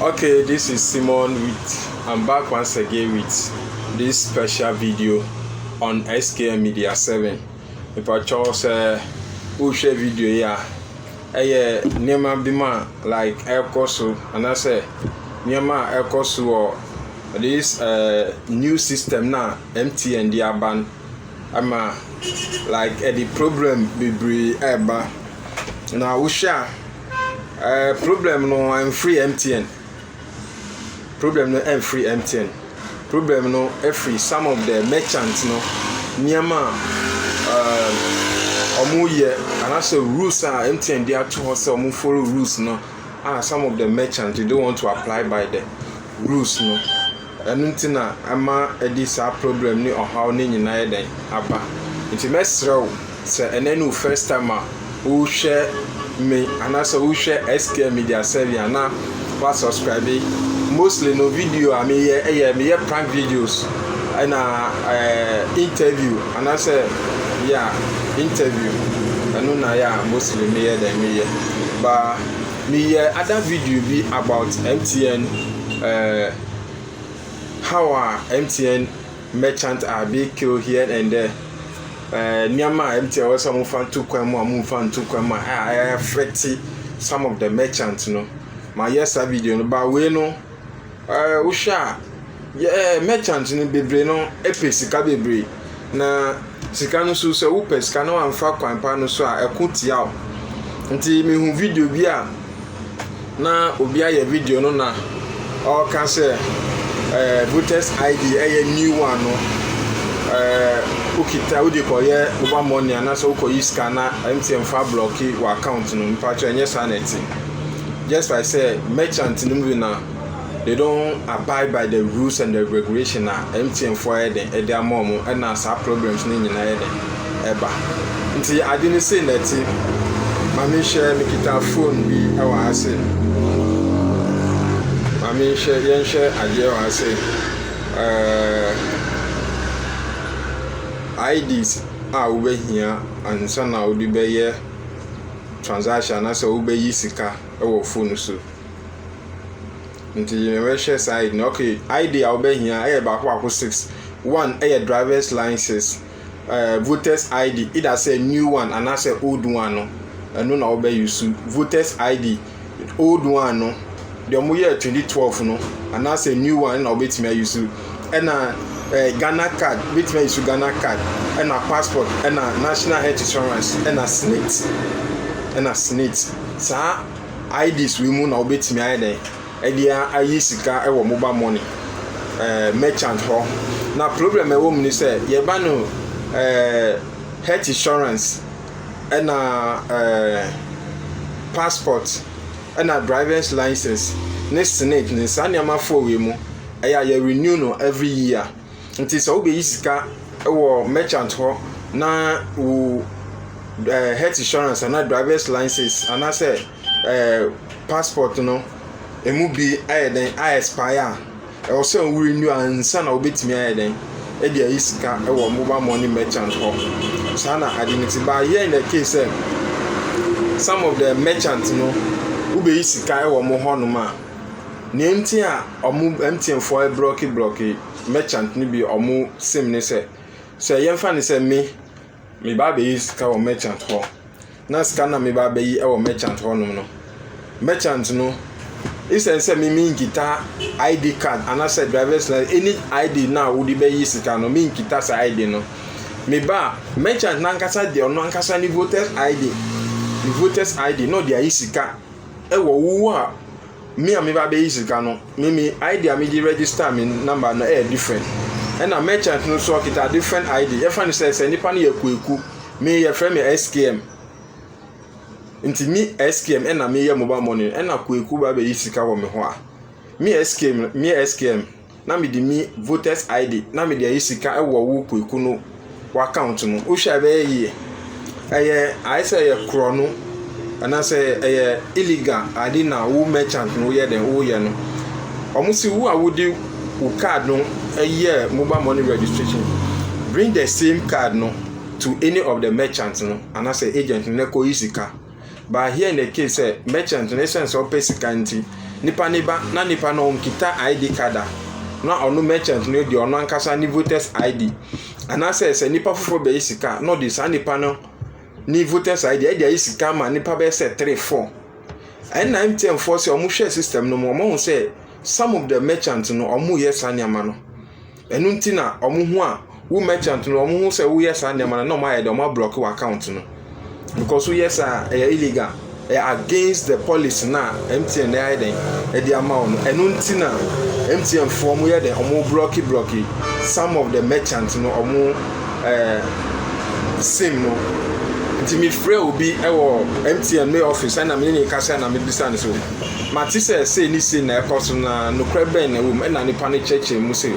Okay this is Simon with I'm back once again with this special video on SKM Media 7 mepatwɔ sɛ wohwɛ video yi a ɛyɛ nneɛma bi ma like ɛkɔ so anaasɛ nneɛma a ɛkɔ so wɔ this uh, new system na MTN de aba no ama like ɛde problem bebree ɛreba na wohwɛ a Ɛɛ problem no ɛnfiri MTN problem no ɛnfiri MTN problem no ɛfiri some of the merchants no nneɛma a ɛɛ wɔyɛ anaasɛ rules a MTN de ato hɔ sɛ wɔn follow rules no a some of the merchants they don't want to apply by the rules no. Ɛno nti na ɛma ɛde saa problem ne ɔhaw no nyinaa yɛ dɛn? Aba. Nti mɛsrɛ wo sɛ ɛnnɛ ne wo first time a wohwɛ me anaasɛ wohwɛ SKM Media Serbia na wa subscribe. Mostly no video a meyɛ ɛyɛ meyɛ prank videos ɛna ɛɛ interview anaasɛ yeah interview ɛno na yɛ a mostly meyɛ dɛn meyɛ ba. meyɛ ada video bi about mtn uh, how a mtn merchant a big kill here and there uh, nneɛma a mtn wɔ sɛ ɔmo fa nto kwan mu a ɔmo nfa nto kwan mu a ɛyɛ affect some of the merchant no ma yɛ saa video no ba wei no. Ɛɛ, wohwɛ a, yɛ ɛɛ merchant no bebree no pɛ sika bebree. Na sika no nso, sɛ wopɛ sika na wamfa kwan pa no so a, ɛko tia wo. Nti mehu video bi a na obi ayɛ video no na ɔreka sɛ ɛɛ voters ID ɛyɛ new one no ɛɛ wokita wode kɔyɛ mobile money anaasɛ wokɔyi sika na MTN fa blɔki wɔ account no. Mpakyɛ ɛnyɛ saa na ɛte. just like sɛ merchant no mu bi na they don't abide by the rules and the regulation a mtn fo ayɛ den ɛde ama wɔn ɛna saa problems no nyinaa yɛ den ɛba nti ade no sei na ɛte maame nhyɛ mekita phone bi ɛwɔ ha se maame nhyɛ yɛnhyɛ adeɛ wɔ ha se ɛɛ ids a wobɛhia ansa na wode bɛyɛ transaction anaasɛ wobɛyi sika wɔ phone so. Nti yɛbɛhwɛ saa ID no. Okay, ID a wobɛhia yɛ baako baako six. One yɛ driver's license, uh, voter's ID, either sɛ new one anaasɛ old one no, ɛno na wobɛyi so. Voter's ID old one no deɛ wɔn yɛ twenty twelve no anaasɛ new one na wɔbɛtumi ayi so ɛna ɛɛ eh, ghana card wɔbɛtumi ayi so ghana card ɛna passport ɛna national health insurance ɛna snit ɛna snit saa ids wei mu na wɔbɛtumi ayɛ dɛ ɛde ayi sika ɛwɔ mobile money ɛɛ eh, merchant hɔ na problem ɛwɔ mu ni sɛ yɛba no ɛɛ eh, health insurance. ɛna ɛɛ passport, ɛna drivers license ne senate ne saa nneɛma four wei mu ɛyɛ a yɛ renew no every year nti sɛ wobɛyi sika wɔ merchant hɔ na wo ɛɛ health insurance ana drivers license anaasɛ ɛɛ passport no emu bi ɛyɛ dɛn a expire a. Ɛwɔ sɛ wo renew ansa na wobɛtumi ayɛ dɛn de ayi sika wɔ mobile money merchant hɔ. Saa na ade no ti. But here in the case sɛ some of the merchant no wobɛyi sika wɔ mo hɔnom a, nea nti a ɔmo MTN foɔ blɔki blɔki merchant no bi ɔmo sim ne sɛ, sɛ yɛmfa ne sɛ me meba abɛyi sika wɔ merchant hɔ. na sika no na meba abɛyi wɔ merchant hɔnom no, merchant no, esiane sɛ me menkita ID card anaasɛ driver's license, any ID no a wode bɛyi sika no, menkita saa ID no. Meba a, merchant no ankasa de ɔno ankasa ne voters ID, ne voters ID na ɔde ayi sika wɔ wo a me a me ba bɛyi sika no me me id a me de register me number no ɛyɛ different ɛna merchant no nso ɔkita different id yɛfrɛ no sɛ sɛ nipa no yɛ kwaku me yɛfrɛ me skm nti me skm ɛna meyɛ mobile money ɛna kwaku ba bɛyi sika wɔ me hɔ a me skm me skm na mede me voters id na mede ayɛ sika wɔ wo puaku no w'account no wohwɛ a ɛbɛyɛ yie ɛyɛ ayɛ sɛ ɛyɛ korɔ no anaasɛ ɛyɛ illegal ade na wo merchant no woyɛ dɛn woyɛ no wɔn si wo a wode wo card no ɛyɛ mobile money registration bring the same card no to any of the merchant no anaasɛ agent no na ɛkɔ yi sika. But here in the case sɛ merchant no esiane sɛ ɔpɛ sika nti nipa no ba na nipa no ɔnkita ID card a na ɔno merchant no deɛ ɔno ankasa ne voters ID anaasɛ sɛ nipa foforɔ bɛyɛ sika na ɔde saa nipa no ne voters ID ɛde ayɛ sika ma nipa bɛyɛ sɛ three four ɛnna MTN foɔ sɛ wɔhwɛ system no mu wɔn ho sɛ some of the merchant no wɔyɛ saa nneɛma no. Ɛno nti na wɔn ho a wo merchant no wɔn ho sɛ woyɛ saa nneɛma no na wɔn ayɛ dɛ wɔn ablɔk wɔ account no because woyɛ saa ɛyɛ illegal ɛyɛ against the policy na MTN ayɛ dɛ ɛde ama wɔn ɛno nti na MTN foɔ wɔn yɛ dɛ wɔn blɔk blɔk some of the merchant no wɔn ɛɛ sim no nti mi frɛ obi ɛwɔ MTN me office ɛna mi ne ne kasa na mi bisa ne so. Mate sɛ sei ne sei na ɛkɔ so na nokorɛ bɛn na ɛwɔ mu? Ɛnna nnipa no kyerɛkyerɛɛ mu sɛ,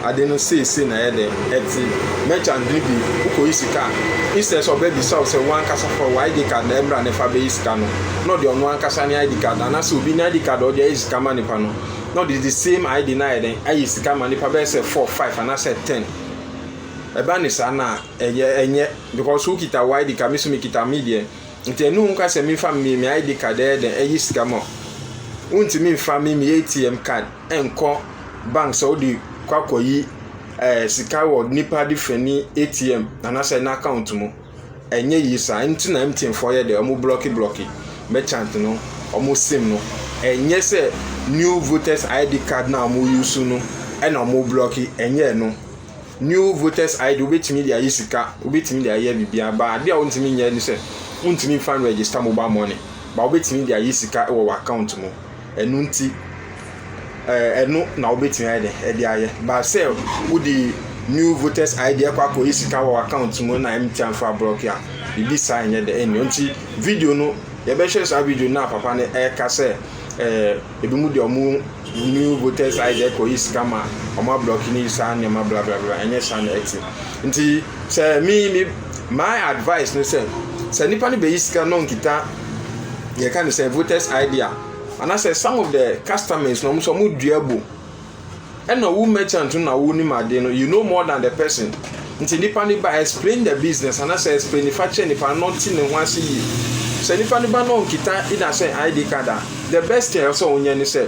Ade no sei sei na ɛyɛ dɛn? Ɛte, merchant no bi, wokɔyi sika a, instead sɛ ɔbɛbisa wo sɛ wo ankasa fa wo ID card na ɛmmra na fa bɛyi sika no, na ɔde ɔno ankasa ne ID card, anaasɛ obi ne ID card a ɔde ayi sika ma nnipa no, na ɔde the same ID no ayɛ dɛn? Ayi sika ama nnipa bɛyɛ sɛ four, five, anaasɛ ten. Ɛba ne saa no a, ɛyɛ, ɛnyɛ, because wokita wo ID card, me nso mekita me deɛ. Ntsi no ho nkwa sɛ memfa me me ID card ɛyɛ dɛn ɛyi sika mɔ wontumi mfa me me ATM card ɛnkɔ bank sɛ wode kɔ akɔyi ɛɛ eh, sika wɔ nipa de fɛ ni ATM anasɛ n'account mu ɛnyɛ yie saa nti na MTN fɔ yɛ dɛ ɔmo blɔki blɔki merchant no ɔmo sim no ɛnyɛ sɛ new voters ID card na ɔmo use no ɛna ɔmo blɔki ɛnyɛ ɛno New voters ID wobɛtumi de ayɛ sika, wobɛtumi de ayɛ biribiara ba adeɛ a wontumi nyɛ ne sɛ wontumi mfa no register mobile money ba wobɛtumi de ayɛ sika wɔ wɔ account mu ɛno nti ɛno na wobɛtumi ayɛ dɛ ɛde ayɛ ba sɛ wode new voters ID ɛkɔ akɔyɛ sika wɔ account mu na MTN fa block a biribi saa nyɛ dɛ ɛnni nti video no yɛbɛhwɛ saa video no a papa no ɛka sɛ ɛɛ Ebinom deɛ wɔn new voters ID ɛkɔyi sika ma wɔn ablɔki ne saa nneɛma bla bla bla ɛnyɛ saa na ɛte. Nti sɛ me me my advice ne sɛ sɛ nipa no bɛyi sika na ɔnkita yɛka ne sɛ voters ID a anaasɛ some of the customers na wɔn nso wɔn dua bu Ɛna wo merchant no na wonim ade no, you know more than the person. Nti nipa no ba explain the business anaasɛ explain nifa kyerɛ nipa no ɔnte ne ho ase yie. Sɛ nipa no ba na ɔnkita ina sɛ ID card a, the best thing ɛwɔ sɛ ɔnyɛ ne sɛ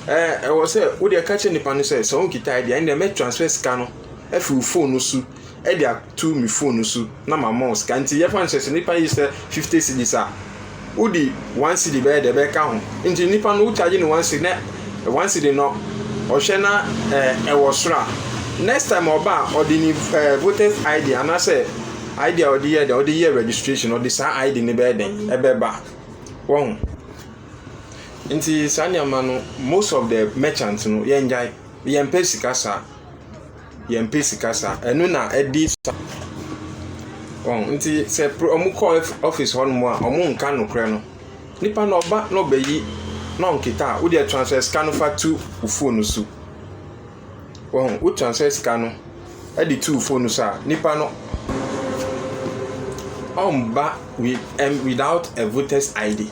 ɛɛ ɛwɔ sɛ wode ɛka kyerɛ nipa no sɛ sɛ ɔnkita ID a ɛnna mɛ transfer sika no afi wo phone no so de ato me phone no so na ma ma wo sika nti yɛfa no sɛ sɛ nipa yi sɛ fifty cedis a wodi one cedi bɛyɛ dɛ bɛka ho nti nipa no wokyagye no one cedi na one cedi no ɔhwɛ na ɛɛ ɛwɔ soro a next time ɔba a ɔde ne ɛɛ voters id anaasɛ id a ɔde yɛ dɛ ɔde yɛ registration ɔde saa id no bɛyɛ dɛ ɛbɛba wɔn nti saa nneɛma no most of the merchant no yɛn gyae yɛn pɛ sika saa. yɛmpɛ sika sa ɛno na ɛdi sa wɔn nti sɛ pro ɔmo kɔ ɔfis hɔ nom a ɔmo nka nokorɛ no nipa no ɔba na ɔbɛyi na ɔnketa a wodeɛ transfɛ sika no fa to wo fon so wɔn wo transfɛ sika no ɛde to wo fon no so a nipa no ɔmba with ɛm without a voters id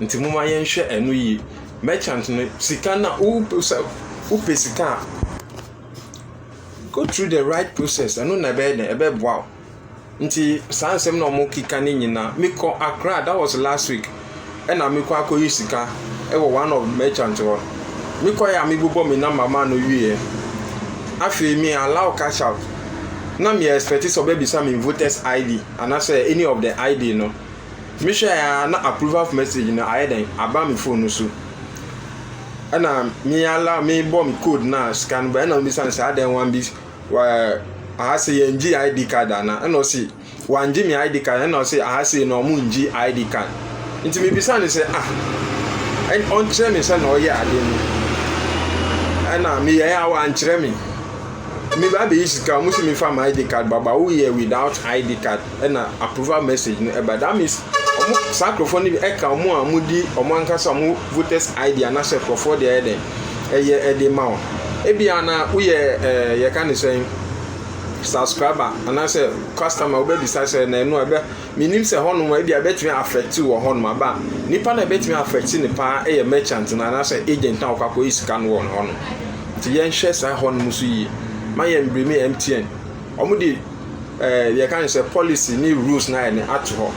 nti mo ma yɛn hwɛ ɛno yie mɛkyɛnt no sika na wo pɛ sika a. Go through the right process ɛno na ɛbɛyɛ dɛ ɛbɛboa wo nti saa nsɛm na wɔn keka ne nyinaa mekɔ akra that was last week ɛna mekɔ akɔyi sika ɛwɔ one of merchant hɔ mekɔ yɛ a mebobɔ me number maa no wieɛ afei me allow cash out na me expect sɛ ɔbɛbisa me voters id anaasɛ any of the id no mehwɛ a na approval of message no ayɛ dɛn aba me phone no so. ɛna me ala mebɔ me code na sika no ba ɛna ɔbisa no sɛ adɛn wan bi wɔ aha se yɛn gye id card ana ɛna ɔsi wan gye me id card ɛna ɔsi aha se na ɔmo ngye id card nti me bisa no sɛ ah ɔnkyerɛ me sɛ na ɔyɛ ade no ɛna me yɛ a wankyerɛ me me ba bɛyi sika ɔmo si me fa my id card baba woyɛ without id card ɛna approval message no ɛba that means ɔmo saa nkorɔfoɔ no bi ɛka ɔmo a ɔmo di ɔmo ankasa ɔmo voters id anaasɛ nkorɔfoɔ deɛ ɛyɛ dɛn ɛyɛ ɛde ma wɔn ebi a na woyɛ ɛɛ yɛka ne sɛn subscriber anaasɛ customer wobɛbisa sɛ na ɛno ɛbɛ menim sɛ hɔnom ebi a ɛbɛtumi affect wɔ hɔnom aba nipa na ɛbɛtumi affect ne paa ɛyɛ merchant na anaasɛ agent na ɔkɔ akɔyɛ sika no wɔ hɔnom nti yɛnhwɛ saa hɔnom so yie ma yɛn mbremi mtn. wɔn de ɛɛ deɛ yɛka ne sɛ policy ne rules na ayɛ ne ato hɔ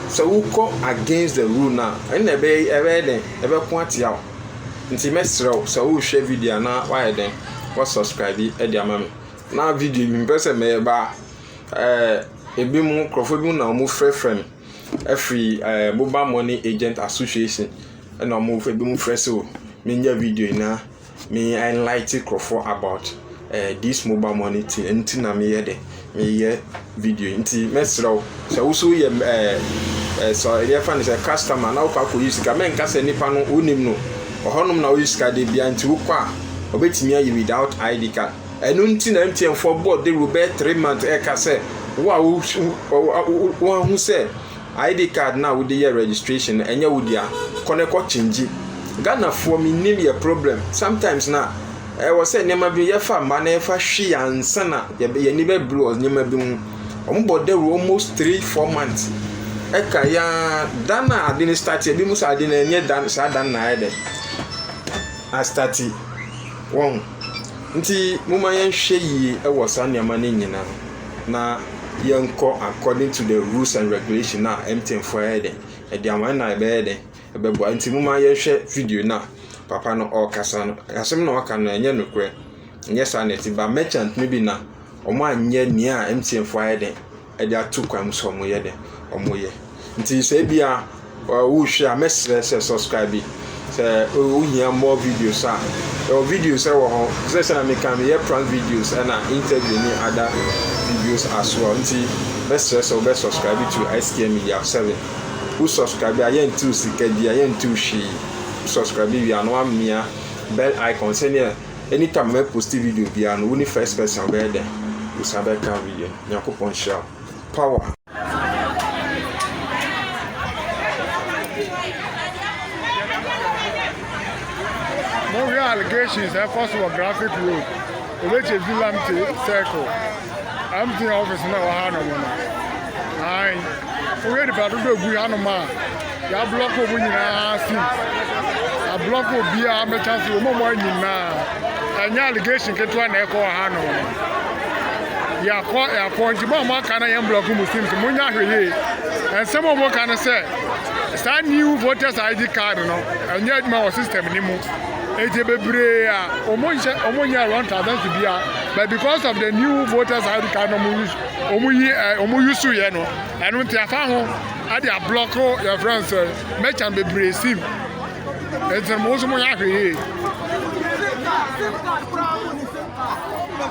sɛ wokɔ against the rule na ɛnna ɛbɛyɛ ɛbɛyɛ dɛn ɛbɛko atia wo nti mɛsrɛ wo sɛ wohwɛ video anaa wayɛ dɛn wɔ subscribe bi ɛde ama me na video bi mpɛ sɛ mɛyɛ baa ɛɛ ebi mu nkurɔfoɔ bi mu na wɔn frɛfrɛ me ɛfiri ɛɛ mobile money agent association ɛna wɔn ebi mu frɛ sɛ o menyɛ video nyinaa Me enlighten nkurɔfoɔ about eh, this mobile money thing ɛno nti na meyɛ dɛ meyɛ video nti mɛsrɛ wo sɛ wo so yɛ eh, eh, sɛ yɛfa no sɛ customer na wokɔ akɔyi sika mɛnka sɛ nipa no wonim no ɔhɔnom na woyi sika de bia nti wokɔ a ɔbɛtumi ayi without id card ɛno nti na mtn foɔ bɔɔ de rubɛ three months ɛka sɛ wo a woahu sɛ ID card no a wode yɛ registration no ɛnyɛ wo dea kɔ na kɔ kyengyi Ghana foɔ me nim yɛ problem sometimes na ɛwɔ sɛ nneɛma bi yɛ fa ma na yɛ fa hwi ansa na yɛ yɛ ni bɛ bere wɔ nneɛma bi ho wɔn bɔ dawuro almost three four months ɛka ya dan a ade ne start ebi mu sɛ ade na ɛnyɛ dan saa dan na ayɛ dɛ a start wɔn nti mo ma yɛn hwɛ yie ɛwɔ saa nneɛma ne nyinaa. na yɛnkɔ according to the rules and regulation a MTN foɔ ayɛ dɛ ɛde ama yɛn na ɛbɛyɛ dɛ ɛbɛboa nti mo ma yɛnhwɛ video no a papa no ɔrekasa no asɛm na ɔreka no ɛnyɛ nokorɛ ɛnyɛ saa na ɛte ba merchant no bi na wɔn anyɛ nea MTN foɔ ayɛ dɛ ɛde ato kwan mu sɛ wɔyɛ dɛ wɔyɛ. Nti sɛ ebia wohwɛ a mɛsrɛ sɛ subscribe bi sɛ wohia more videos a ɛwɔ videos ɛwɔ hɔ sɛ sɛ na meka meyɛ prank videos ɛna interview ne ada videos as well nti mɛsrɛ sɛ wobɛ subscribe to STM Media 7 wo subscribe a yɛntew sika bi a yɛntew hwee wo subscribe wie a na wamea bell icon sɛnea anytime mɛ post video biara no wo ne first person wobɛyɛ dɛ wosan bɛka video nyankopɔn hyira power Mohwɛ allegations a ɛkɔ so wɔ Graphic Road, Obeche Villamte Circle, MTN office na ɛwɔ hanom no. Ae, wohwɛ nipa dodoɔ a ɛgu hanom a, Y'a block ɔmo nyinaa since. Y'a block obiaa mɛtwa so ɔmo ɔmo anyim naa. Ɛnyɛ allegation ketewa na ɛkɔ wɔ hanom no. Yɛakɔ yɛakɔ nti mo a mo aka na yɛn block Muslims mo nya hwɛ yie. Ɛnsɛm ɔmo ka no sɛ saa new voters ID card no ɛnyɛ adwuma wɔ system ne mu. Eti bebree a ɔmo nhyɛ ɔmo nyɛ wrong transactions bia but because of the new voters ID card no ɔmo use ɔmo yi ɔmo use yɛ no ɛno nti afa ho. Ade a block yɛfrɛ no sɛ mɛkyan bebree sim nti mo nso mo yɛ ahwɛ yie.